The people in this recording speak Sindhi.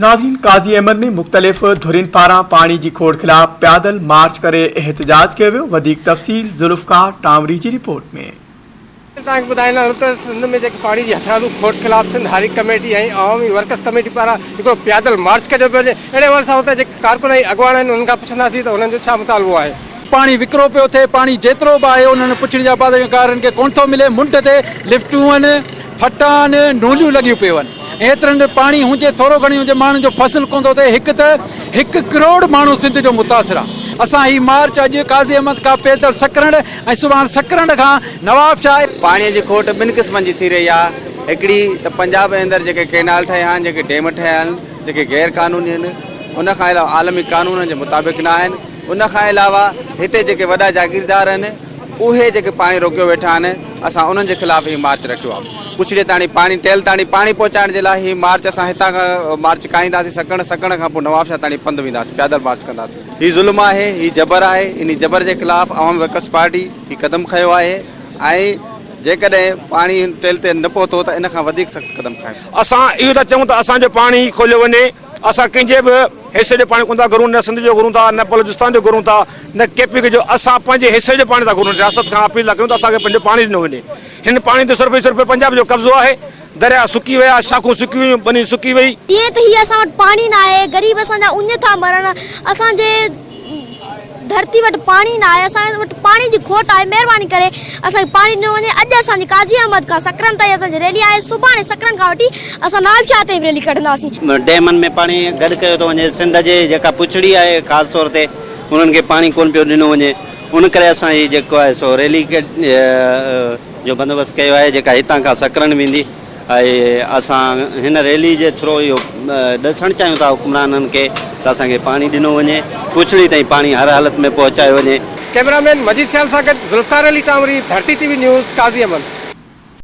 ناظرين قاضي احمد ۾ مختلف ڌرين پاران پاڻي جي کوڙ خلاف پيادل مارچ ڪري احتجاج ڪيو ويو وڌيڪ تفصيل ذوالفقار ٽانوري جي رپورٽ ۾. ناظرين توهان کي ٻڌائيندا آهيون ته سنڌ ۾ جيڪي پاڻي جي هٿرادو کوٽ خلاف Sindh Hari committee ۽ Awami workers committee پاران هڪڙو پيادل مارچ ڪڍيو پيو وڃي اهڙي حوالي سان اتان جيڪي ڪارڪن ۽ اڳواڻ آهن انهن کان پڇنداسين ته انهن جو ڇا مطالبو آهي. پاڻي وڪرو پيو ٿئي، پاڻي جيترو به آهي انهن پڇڙين جا پاسگارن کي ڪونه ٿو ملي، منڍ تي لفٽون، ڦٽان، نوليون لڳيون پيون آهن، ايترن ۾ پاڻي هجي ٿورو گهڻي هجي ماڻهن جو فصل ڪونه ٿو ٿئي، هڪ ته هڪ ڪروڙ ماڻهو سنڌ جو متاثر آهي، اسان هي مارچ اڄ قاضي احمد کان پيدل سڪرنڊ ۽ سڀاڻ سڪرنڊ کان نواب شاهه. پاڻي جي کوٽ ٻن قسمن جي ٿي رهي آهي، هڪڙي ته پنجاب جي اندر جيڪي ڪئنال ٺهيا آهن، جيڪي ڊيم ٺهيا آهن، جيڪي غير قانوني آهن، ان کان علاوه عالمي قانونن جي مطابق نه آهن، ان کان علاوه هتي جيڪي وڏا جاگيردار آهن اهي جيڪي پاڻي روڪيو ويٺا آهن اسان انهن جي خلاف هي مارچ رکيو آهي ڪچڙي تاڻي پاڻي ٽيل تاڻي پاڻي پهچائڻ جي لاء هي مارچ اسان هتان کان مارچ ڪائينداسين سڪڻ سڪڻ کان پوء نوابشاهه تاڻي پنڌ وينداسين پيادل مارچ ڪنداسين هي ظلم آهي هي جبر آهي انهي جبر جي خلاف عوامي ورڪرس پارٽي هي قدم کنيو آهي ۽ جيڪڏهن پاڻي ٽيل تي نه پهتو ته ان کان وڌيڪ سخت قدم کنيو اسان اهو ٿا چئون ته اسان جو پاڻي کوليو وڃي اسان ڪنهنجي به حصي جو پاڻي ڪونه ٿا گهرون، نه سنڌ جو گهرون ٿا، نه بلوچستان جو گهرون ٿا، نه ڪي پي ڪي جو، اسان پنهنجي حصي جو پاڻي ٿا گهرون، رياست کان اپيل ٿا ڪريون ته اسان کي پنهنجو پاڻي ڏنو وڃي، هن پاڻي تي صرف ۽ صرف پنجاب جو قبضو آهي، درياء سڪي ويا، شاخون سڪي ويون، ٻني سڪي ويئي. جيئن ته هي اسان وٽ پاڻي ناهي، غريب اسان جا اڃ ٿا مرن، اسان جي. ڌرتي وٽ پاڻي نه آهي اسان وٽ پاڻي جي کوٽ آهي مهرباني ڪري اسان کي پاڻي ڏنو وڃي اڄ اسان جي قاضي احمد کان سڪرنڊ تائين اسان جي ريلي آهي سڀاڻي سڪرنڊ کان وٺي اسان نوابشاهه تائين ريلي ڪڍنداسين. ڊيمن ۾ پاڻي گڏ ڪيو ٿو وڃي سنڌ جي جيڪا پڇڙي آهي خاص طور تي انهن کي پاڻي ڪون پيو ڏنو وڃي ان ڪري اسان هي جيڪو آهي سو ريلي جو بندوبست ڪيو آهي جيڪا هتان کان سڪرنڊ ويندي. ۽ اسان هن ريلي جي ٿرو اهو ڏسڻ چاهيون ٿا حڪمرانن کي ته اسان کي پاڻي ڏنو وڃي، پڇڙي تائين پاڻي هر حالت ۾ پهچايو وڃي. ڪئميرا مين مجيد سيال سان گڏ ذوالفقار علي ٽانوري، ڌرتي ٽي وي نيوز، قاضي احمد.